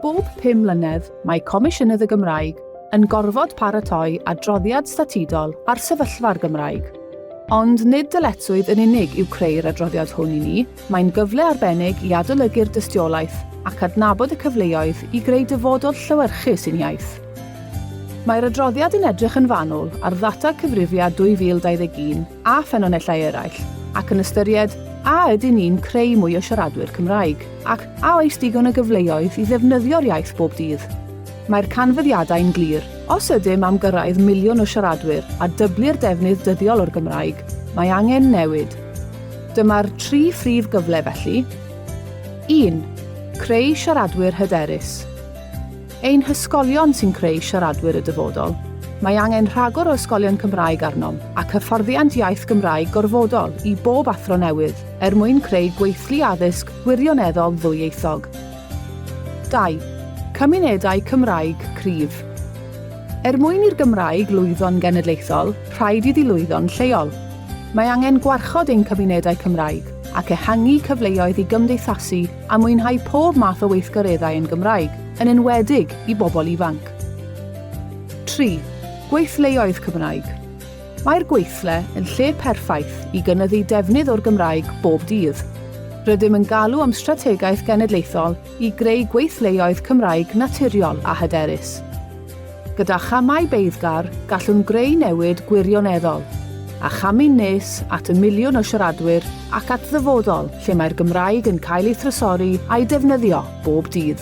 Bob pum mlynedd, mae Comisiynydd y Gymraeg yn gorfod paratoi adroddiad statudol ar sefyllfa'r Gymraeg. Ond nid dyletswydd yn unig yw creu'r adroddiad hwn i ni, mae'n gyfle arbennig i adolygu'r dystiolaeth ac adnabod y cyfleoedd i greu dyfodol llewyrchus i'n iaith. Mae'r adroddiad yn edrych yn fanwl ar ddata Cyfrifiad 2021 a ffynonellau eraill, ac yn ystyried a ydyn ni'n creu mwy o siaradwyr Cymraeg, ac a oes digon o gyfleoedd i ddefnyddio'r iaith bob dydd. Mae'r canfyddiadau'n glir, os ydym am gyrraedd miliwn o siaradwyr a dyblu'r defnydd dyddiol o'r Gymraeg, mae angen newid. Dyma'r tri phrif gyfle felly. Un. Creu siaradwyr hyderus. Ein hysgolion sy'n creu siaradwyr y dyfodol. Mae angen rhagor o ysgolion Cymraeg arnom, ac hyfforddiant iaith Gymraeg gorfodol i bob athro newydd, er mwyn creu gweithlu addysg wirioneddol ddwyieithog. 2. Cymunedau Cymraeg cryf. Er mwyn i'r Gymraeg lwyddo'n genedlaethol, rhaid iddi lwyddo'n lleol. Mae angen gwarchod ein cymunedau Cymraeg, ac ehangu cyfleoedd i gymdeithasu a mwynhau pob math o weithgareddau yn Gymraeg, yn enwedig i bobl ifanc. 3. Gweithleoedd Cymraeg Mae'r gweithle yn lle perffaith i gynyddu defnydd o'r Gymraeg bob dydd. Rydym yn galw am strategaeth genedlaethol i greu gweithleoedd Cymraeg naturiol a hyderus. Gyda chamau beiddgar, gallwn greu newid gwirioneddol, a chamu nes at y miliwn o siaradwyr ac at ddyfodol lle mae'r Gymraeg yn cael ei thrysori a'i defnyddio bob dydd.